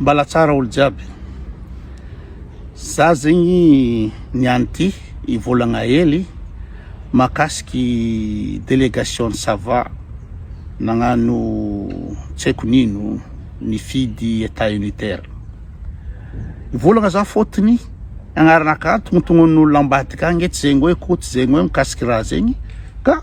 Mbala tsara olo jiaby. Za zegny niany ty i volagna hely makasiky delegation sava nagnano tsy haiko nino nifidy etat unitaire mivolagna za fotony agnaranaka antognontognon'olo ambadika agny tsy zegny hoe ko tsy zegny hoe mikasiky raha zegny ka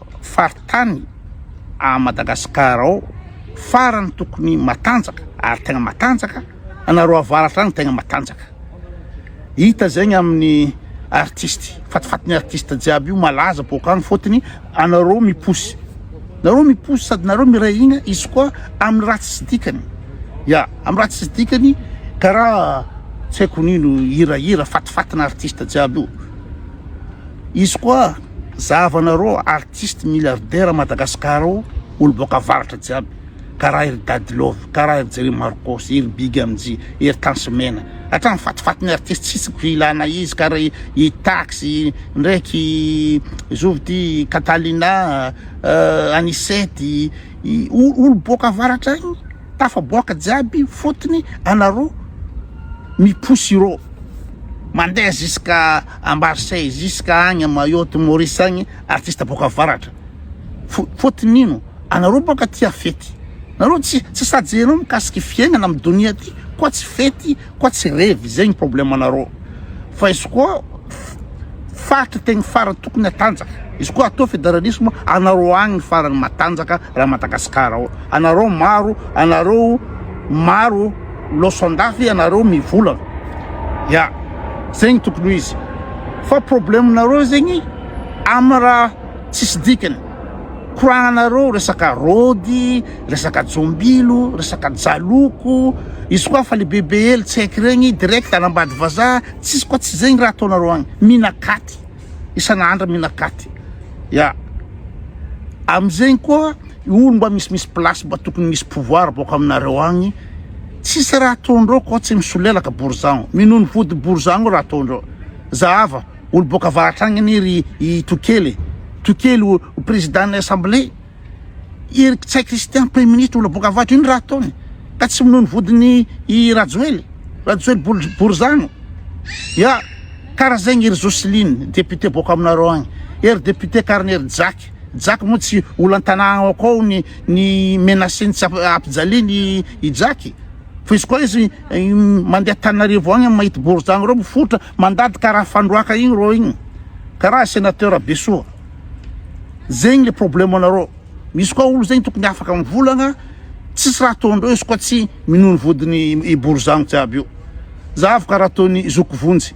faritany à Madagascar ao farany tokony matanjaka ary tegna matanjaka anareo avaratra any tegna matanjaka hita zegny amin'ny artiste fatifatin'ny artiste jiaby io malaza boaka any fotony anareo miposy nareo miposy sady nareo miray hina izy koa amin'ny raha tsisy dikany ya amin'ny raha tsisy dikany karaha tsy haiko nino hirahira fatifatina artiste jiaby io izy koa Zava nareo artiste milliardaire Madagascar o olo boaka avaratra jiaby karaha ery Dady love karaha ery Jerry Marcos ery Big MJ ery Tansy mena hatrany fatifaty ny artiste tsisy ko ilana izy karaha i Tax ndraiky zovy ty Catalina Anicette olo boaka avaratra agny Tafaboaka jiaby fotony anaro mipousy iro mandeha ziska à Marseille ziska agny à Mayotte Maurice agny artiste boaka avaratra fotony ino anaro boaka tia fety nareo tsy sady enao mikasiky fiaignana am donia ty koa tsy fety Koa tsy revy izay ny problème anareo fa izy koa faritra tegny farany tokony hatanjaka izy koa atao fédéralisme anareo agny farany matanjaka raha Madagascar ao anareo maro anareo maro loso andafy anareo mivolagna ya zegny tokony ho izy fa problème nareo zegny amina raha tsisy dikany koragnanareo resaka rôdy, resaka jombilo, resaka jaloko, izy koa fa le bebe hely tsaiky regny direct any ambady vazaha, tsisy koa tsy zegny raha ataonareo agny, minakaty isan'andra minakaty ya amizegny koa olo mba misimisy place mba tokony misy pouvoir bôka aminareo agny tsisy raha ataondreo koa tsy misolelaka borizano minono vody borizano raha ataondreo zahava. Olo boka avaratra agny anie ry i Tokely e. Tokely ho président ny assemblée. I Rkitsay Christian premier ministre olo boka avaratra ino raha ataony ka tsy minono vodiny i Rajoely. Rajoely bol borizano. Ya kara zegny ry Jocelyne député boka aminareo agny. Ery député karany ery Jack. Jack moa tsy olo antanà ao akao ny ny menaceny tsy ap ampijaliany i Jack. Fa izy koa izy mandeha Antananarivo agny mahita borizano reo mifoitra. Mandady karaha fandroaka igny rô igny karaha senateur be soa zegny le problème anarô misy koa olo zegny tokony afaka mivolagna tsisy raha ataondreo izy koa tsy minono vodiny i borizano jiaby io za avy karaha ataony zoky vonjy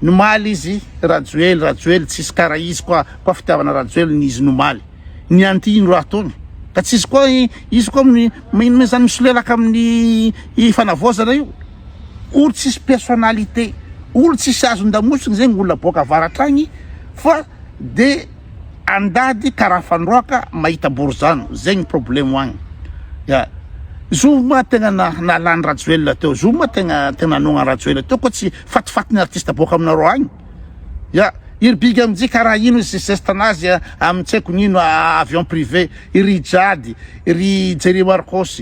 nomaly izy rajoely rajoely tsisy karaha izy koa koa fitiavana rajoely ny izy nomaly ny anty ino raha ataony ka tsisy koa izy koa mino mizany misolelaka amin'ny fanavaozana io olo tsisy personnalité olo tsisy azondamosina zegny olona boaka avaratra agny fa de andady karaha fandroaka mahita borizano zegny problemo agny ya zoma tegna na nalany rajoelina teo zoma tegna tegna nanogna rajoelina teo koa tsy fatifatin'ny artiste boaka aminareo agny ya iry big amzay karaha ino izy zesta nazy a amin-tsaiko nino avion privé iry jady iry jerry marcos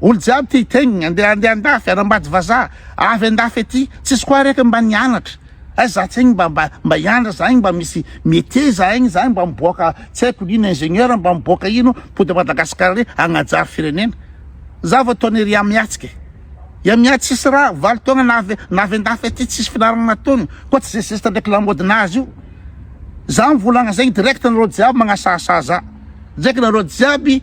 Olo jiaby ty tegn ande ande andafy anambady vazaha avy andafy aty tsisy koa reka mba nianatra ay za tsegny mba mba mba hianatra za igny mba misy metier za igny za mba miboaka tsy aiko ino ingenieur mba miboaka ino mpody Madagascar re agnajary firenena za vao ataony ry amiatsika e ya mia tsisy ra valo taogna na avy na avy andafy aty tsisy finaragna nataony koa tsy ze zesta ndraiky lamody nazy io za mivolagna zegny direct anareo jiaby magnasahasaha za ndraiky nareo jiaby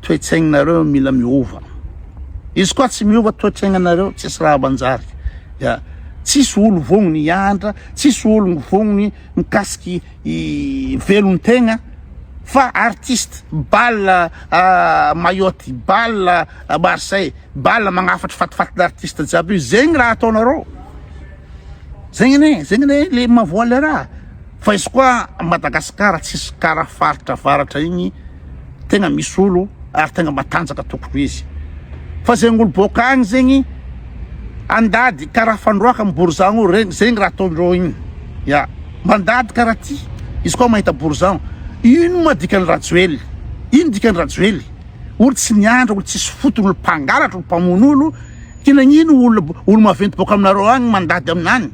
toetsaignareo mila miova izy koa tsy miova toetraignanareo tsisy raha manjary ya tsisy olo vognony hiantra tsisy olony vognony mikasiky velon-tegna fa artiste bal ah, mayotte bal ah, marseille bal magnafatry fatifatina artiste jiaby io zegny raha ataonareo zegny ne zegny ne le mavoale raha fa izy koa madagasikara tsisy karaha faritra avaratra igny tegna misy olo ary tegna matanjaka tokoa izy fa zegny olo boaka agny zegny andady karaha fandroaka am borizano io regny zegny raha ataondreo igny ya mandady karaha ty izy koa mahita borizano ino ma dikany rajoely ino dikany rajoely olo tsy niandra olo tsisy fotony olo mpangalatra olo mpamono olo ty nagnino olo olo maventy boaka aminareo agny mandady aminany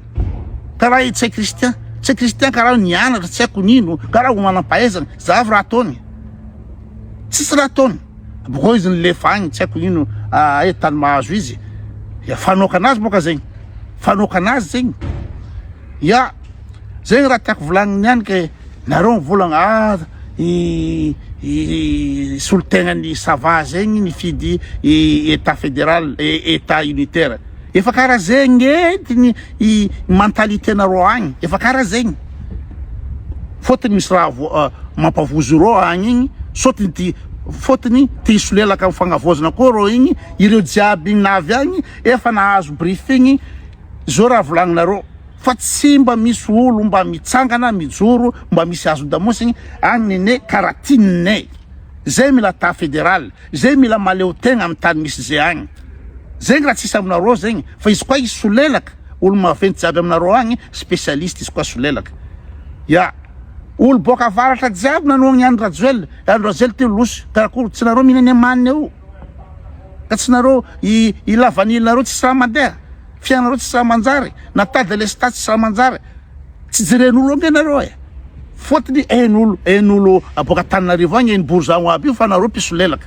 karaha i tsay kristian tsay kristian karaha nianatra tsy haiko nino karaha olo manam-pahaizana Zavo raha ataony tsisy raha ataony boko izy nilefa agny tsy haiko ino aia tany mahazo izy ya fanoakana azy boka zegny fanoakana azy zegny ya zegny raha tiako volagniny ihany ke nareo mivolagna ah i i solontegnan'ny sava zegny nifidy i état fédéral état unitaire efa karaha zegny entiny i mentalité nareo agny efa karaha zegny Fotiny misy raha mampavozo rô agny igny sotiny ty fotiny te hisolelaka am fagnavozana koa rô igny ireo jiaby na avy agny efa nahazo briefing zo raha volagninareo fa tsy mba misy olo mba mitsangana mijoro mba misy azo damosigny agny nene kara tinne ze mila ta federal ze mila maleo tegna am tany misy ze agny zegny raha tsisy aminareo zegny fa izy koa hisolelaka Olo maventy jiaby aminareo agny specialiste izy koa solelaka ya olo boaka avaratra jiaby nanohagna i Andry Rajoel i Andry Rajoel teo loso karakory tsy nareo mihina ny amaniny eo ka tsy nareo i i lavanille nareo tsisy raha mandeha fiainanareo tsisy raha manjary na tas de lestat tsisy raha manjary tsy jeren'olo ange nareo e fôtony ain'olo ain'olo aboaka Antananarivo agny hainy bourgeois aby io fa nareo mpisolelaka